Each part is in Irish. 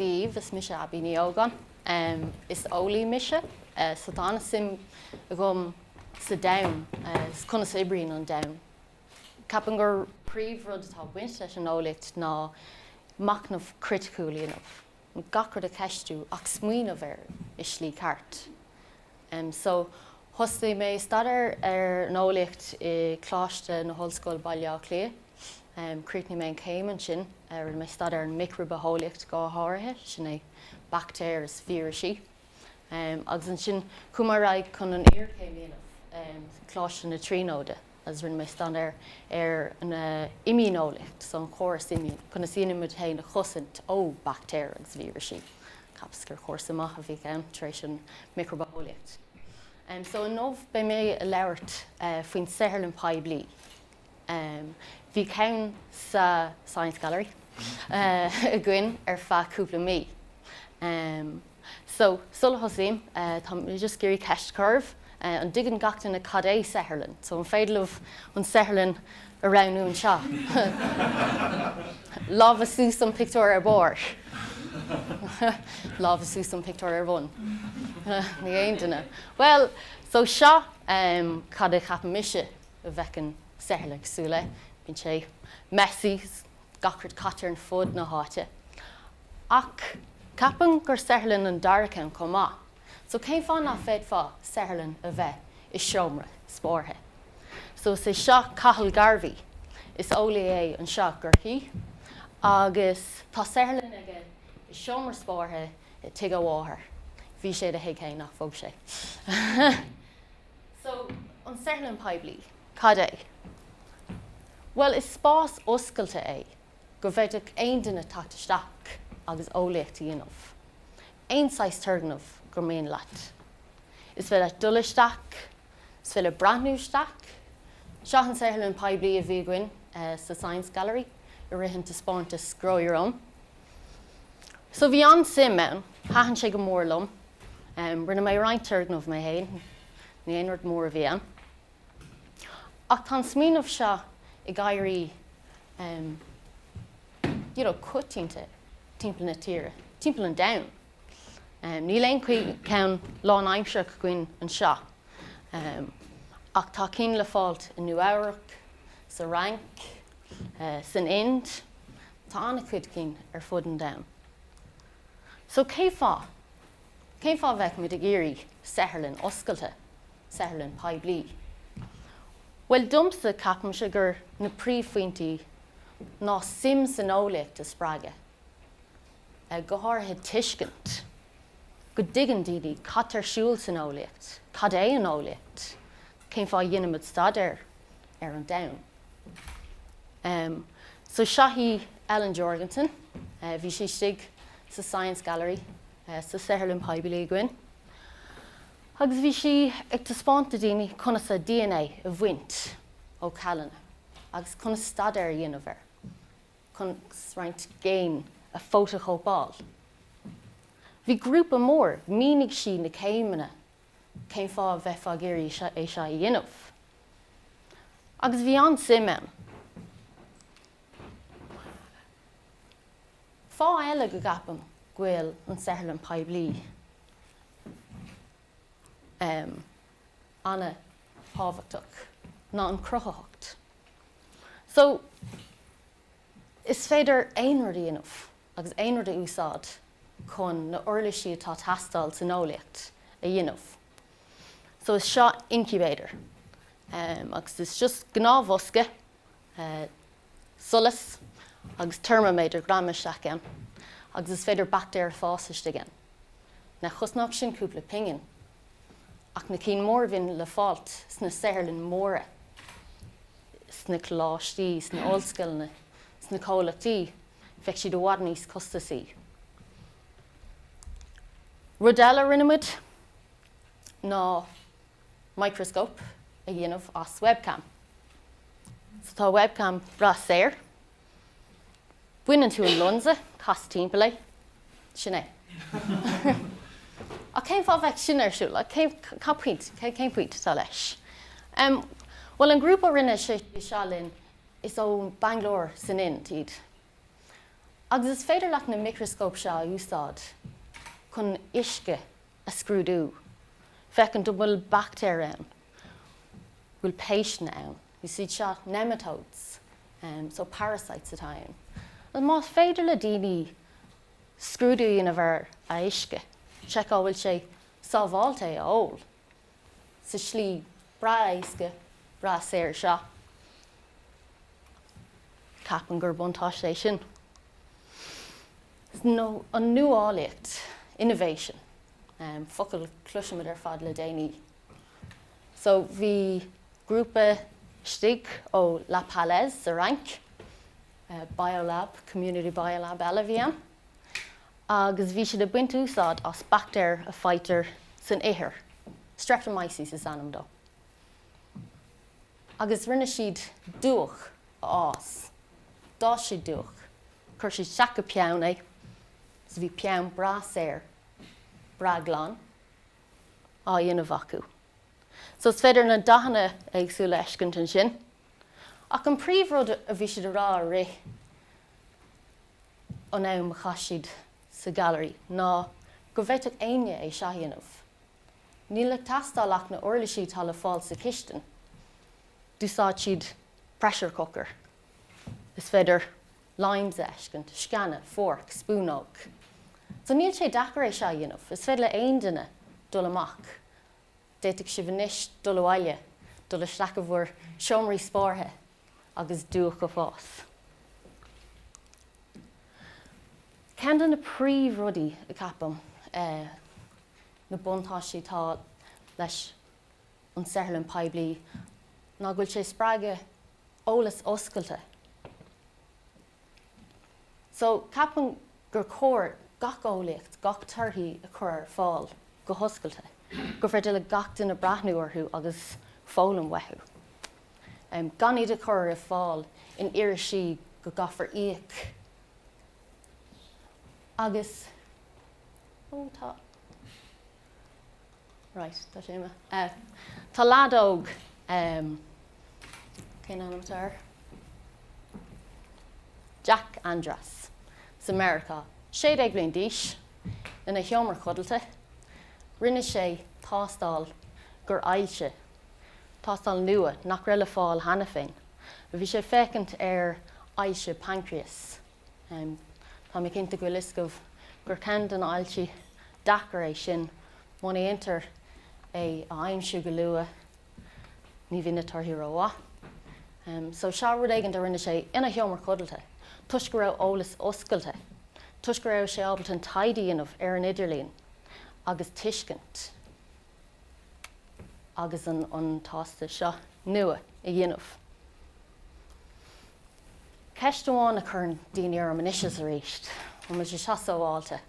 daoibh, is mise Abbie Ní Ógáin. Is eolaí mise so tá an-suim agam sa domhan is conas a oibríonn an domhan. Ceapaim gur príomhrud atá ag baint leis an eolaíocht ná machnamh criticiúil a dhéanamh. gach rud a cheistiú ach smaoineamh air i slí ceart. So, thosaigh mé staidéar ar an eolaíocht i Coláiste na hOllscoile Baile Átha Cliath. Chríochnaigh mé an céim ansin. Rinne mé staidéar ar an micribhitheolaíocht go háirithe, sin é baictéir is vírisí. Agus ansin chuaigh mé ar aghaidh chun an iarchéim a dhéanamh i gColáiste na Tríonóide. Is rinne mé staidéar ar an imdhíoneolaíocht, so an córas imdhíonach, conas a dhéanaimid muid féin a chosaint ó baictéir agus vírisí, ceapas gur cúrsa maith a bhí ann tar éis an micribitheolaíocht. So inniu beidh mé ag labhairt faoin saotharlann poiblí. Bhí ceann sa Science Gallery againn ar feadh cúpla mí. So, sula thosaím, tá mé just ag iarraidh ceist a chur oraibh. An dtuigeann gach duine cad é saotharlann? So, an féidir libh an saotharlann a roghnú anseo? Lámha suas don pictiúr ar barr. Lámha suas don pictiúr ar bun. Ní aon duine. Bhuel, so seo cad a cheapann mise a bheadh an saotharlann cosúil le. Bíonn sé messy, gach rud caite ar an fud na háite. Ach ceapaim gur saotharlann an dara ceann chomh maith, so cén fáth nach bhféadfá saotharlann a bheith i seomra spártha? So is é seo Cathal Garvey, is eolaí é anseo i gCorcaigh agus tá saotharlann aige i seomra spártha i dtigh a mháthar, bhí sé ina thigh fhéin ach bhog sé. So an saotharlann poiblí, cad é? Bhuel is spás oscailte é. go bhféadfadh aon duine teacht isteach agus eolaíocht a dhéanamh, aon saghas turgnaimh gur mian leat. Is féidir leat dul isteach, is féidir leat breathnú isteach. Seo an saotharlann poiblí a bhí againn sa Science Gallery i rith an taispeántas Grow Your Own. So bhí an-suim ann, thaitin sé go mór liom. Rinne mé roinnt turgnaimh mé fhéin, ní aon rud mór a bhí ann. Ach tá an smaoineamh seo ag éirí coitianta timpeall na tíre, timpeall an domhain. Níl aon cheann lánaimsearach againn anseo ach tá cinn le fáilt i Nua Eabhrac, sa Fhrainc, san Ind, tá an-chuid cinn ar fud an domhain. So cén fáth, cén fáth a bheadh muid ag iarraidh saotharlann oscailte? saotharlann poiblí. Bhuel, domsa, ceapaimse gur na príomhphointí ná suim san eolaíocht a spreagadh, go háirithe tuiscint go dtuigeann daoine cad tá ar siúl san eolaíocht, cad é an eolaíocht, cén fáth a ndéanaimid staidéar ar an domhan. Em, so seo í Ellen Jorgensen, bhí sí istigh sa Science Gallery, sa saotharlann phoiblí againn. Agus bhí sí ag taispeáint do dhaoine conas a dna a bhaint ó cheallanna agus conas staidéar a dhéanamh air, conas roinnt géin a fhótachóipeáil. Bhí grúpa mór, mhínigh sí na céimeanna cén fáth a bheifeá ag iarraidh é seo a dhéanamh. Agus bhí an-suim ann. Fáth eile go gceapaim go bhfuil an tsaotharlann phoiblí an-tábhachtach ná an chruthaitheacht. So, is féidir aon rud a dhéanamh agus aon rud a úsáid chun na uirlisí atá teastáil san eolaíocht a dhéanamh. So is seo incubator. Agus is just gnáthbhosca eh, solas agus teirmiméadar greamaithe isteach ann agus is féidir baictéir a fhás istigh ann. Ní chosnódh sin cúpla pingin. Ach na cinn mór a bhíonn le fáilt sna saotharlann móra, sna coláistí, sna ollscoileanna, sna comhlachtaí, bheadh siad i bhfad níos costasaí. Rud eile a rinne muid ná. microscope a dhéanamh as webcam. So tá webcam breá saor. Baineann tú an lionsa, cas timpeall é, sin é. Ach cén fáth a bheadh sin ar siúl? Like cén, cad point, cén, cén point atá leis? Um, bhuel an grúpa a rinne é seo linn is ó Bangalore san Ind iad. Agus is féidir leat na micreascóip seo a úsáid chun uisce a scrúdú, féachaint an bhfuil baictéir ann, an bhfuil péisteanna ann, is iad seo nematodes, so parasites atá ann. Agus más féidir le daoine scrúdú a dhéanamh ar an uisce, seiceáil an bhfuil sé sábháilte é a ól, sa tslí breá éasca, breá saor seo. Ceapaim gur buntáiste é sin. Nó an nuálaíocht, innovation, focal a chloisimid ar fad le déanaí. So bhí grúpa istigh ó La Paillasse sa Fhrainc, biolab, community biolab eile a bhí ann. agus bhí siad ag baint úsáid as baictéir a fhaightear san ithir, Streptomyces is ainm dó, agus rinne siad dúch a fhás, d'fhás siad dúch, chuir siad isteach i peann é, so bhí peann breá saor, breá glan á dhéanamh acu. So is féidir na dathanna éagsúla a fheiscint ansin. Ach an príomhrud a bhí siad a rá i rith an ama a chaith siad sa Gallery ná go bhféadfadh éinne é seo a dhéanamh. Níl ag teastáil ach na uirlisí atá le fáil sa chistin. D'úsáid siad pressure cooker, is féidir limes a fheiscint, sceana, forc, spúnóg. So níl sé deacair é seo a dhéanamh. Is féidir le aon duine dul amach D'fhéadfadh sibh anois dul abhaile, dul isteach i bhur seomraí spártha agus dúch a fhás. Ceann de na príomhrudaí a cheapaim na buntáistí atá leis an saotharlann phoiblí ná go bhfuil sé ag spreagadh eolaíocht oscailte. So, ceapaim gur chóir gach eolaíocht, gach torthaí a chur ar fáil go hoscailte, gur féidir le gach duine breathnú orthu agus foghlaim uathu. Gan iad a chur ar fáil in irisí go gcaithfear íoc agus, ó, tá. Right, tá sé uime. Eh, tá lad óg, em, cén ainm atá air? Jack Andras, as Meiriceá, sé déag bliain d'aois, ina sheomra codlata, rinne sé tástáil d'ailse, tástáil nua nach raibh le fáil cheana féin, bhí sé ag féachaint ar ailse paincreas. Tá mé cinnte go bhfuil fhios agaibh gur ceann de na hailsí deacair é sin. Muna ndéantar é a aimsiú go luath ní bhíonn na torthaí rómhaith. So seo rud éigin a rinne sé ina sheomra codlata toisc go raibh eolaíocht oscailte, toisc go raibh sé ábalta an taighde a dhéanamh ar an idirlíon agus tuiscint. agus an an tástáil seo nua a dhéanamh. Ceist amháin a chuireann daoine orm anois is arís, an bhfuil sé seo sábháilte?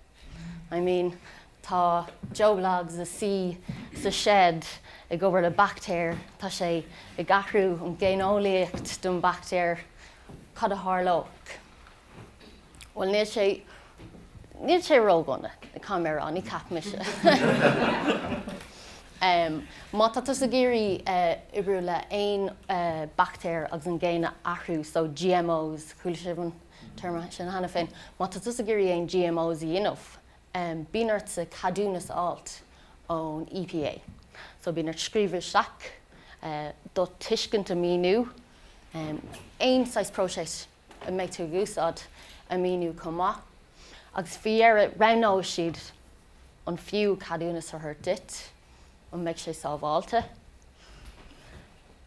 I mean, tá Joe Bloggs ag suí sa seid ag obair le baictéir, tá sé ag athrú an ghéineolaíocht don baictéir, cad a tharlóidh? Bhuel níl sé, níl sé ródhona, ná bí buartha, ní cheapaimse. Má tá tusa ag iarraidh oibriú le haon baictéar agus an ghéin a athrú, so GMOs, chuala sibh an téarma sin cheana féin, má tá tusa ag iarraidh aon GMOs a dhéanamh, bíonn ortsa ceadúnas fháilt ón EPA. So bíonn ort scríobh isteach, do thuiscint a mhíniú, aon saghas próiseas a mbeidh tú ag úsáid a mhíniú chomh maith agus faoi dheireadh roghnóidh siad an fiú ceadúnas a thabhairt duit, an mbeidh sé sábháilte.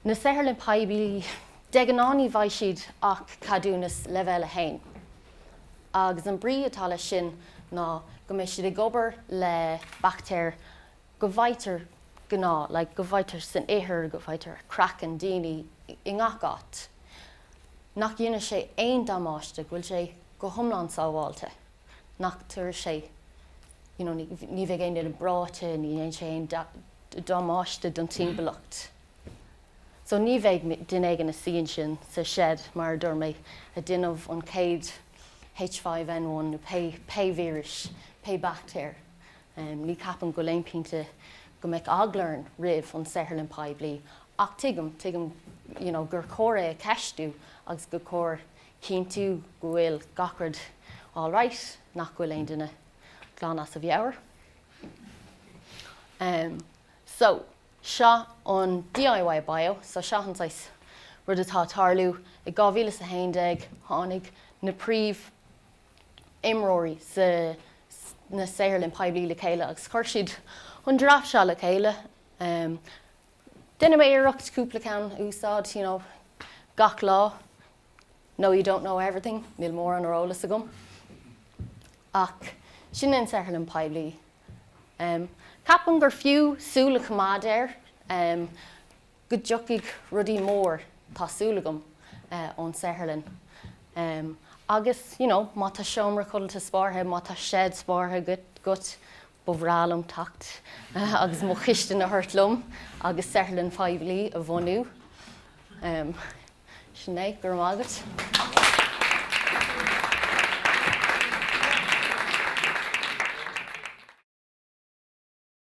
Na saotharlann poiblí de ghnáth ní bhfaighidh siad ach ceadúnas leibhéal a haon agus an brí atá leis sin ná go mbeidh siad ag obair le baictéir go bhfaightear gnáth like go bhfaightear san ithir, go bhfaightear ar chraiceann daoine i ngach áit. nach ndéanann sé aon damáiste, go bhfuil sé go hiomlán sábháilte, nach dtabharfadh sé, you know, ní bheidh aon duine breoite, ní dhéanfaidh sé aon damáiste don timpeallacht. So ní bheidh duine éigin ina shuí ansin sa seid, mar a dúirt mé, ag déanamh an chéad H5N1 nó pé víris, pé baictéar Ní cheapaim go bhfuil aon phointe go mbeidh eagla orainn roimh an saotharlann poiblí ach tuigim, tuigim you know gur chóir é a cheistiú agus gur chóir cinntiú go bhfuil gach rud alright, nach bhfuil aon duine glan as a mheabhair. Em, so, seo an DIY bio, so seo an saghas rud atá ag tarlú. I 2011 tháinig na príomh imreoirí sna saotharlann poiblí le chéile agus chuir siad an draft seo le chéile. Em déanfaidh mé iarracht cúpla ceann a úsáid you know gach lá. No you don't know everything níl mórán ar eolas agam. Ach sin an saotharlann poiblí. Em ceapaim gur fiú súil a choimeád air. Em. go dtiocfaidh rudaí mór, tá súil agam, ón saotharlann. Agus, you know, má tá seomra codlata spártha, má tá seid spártha agat, ba bhreá liom teacht agus mo chiste a thabhairt liom agus saotharlann phoiblí a bhunú. Sin é, go raibh maith agat.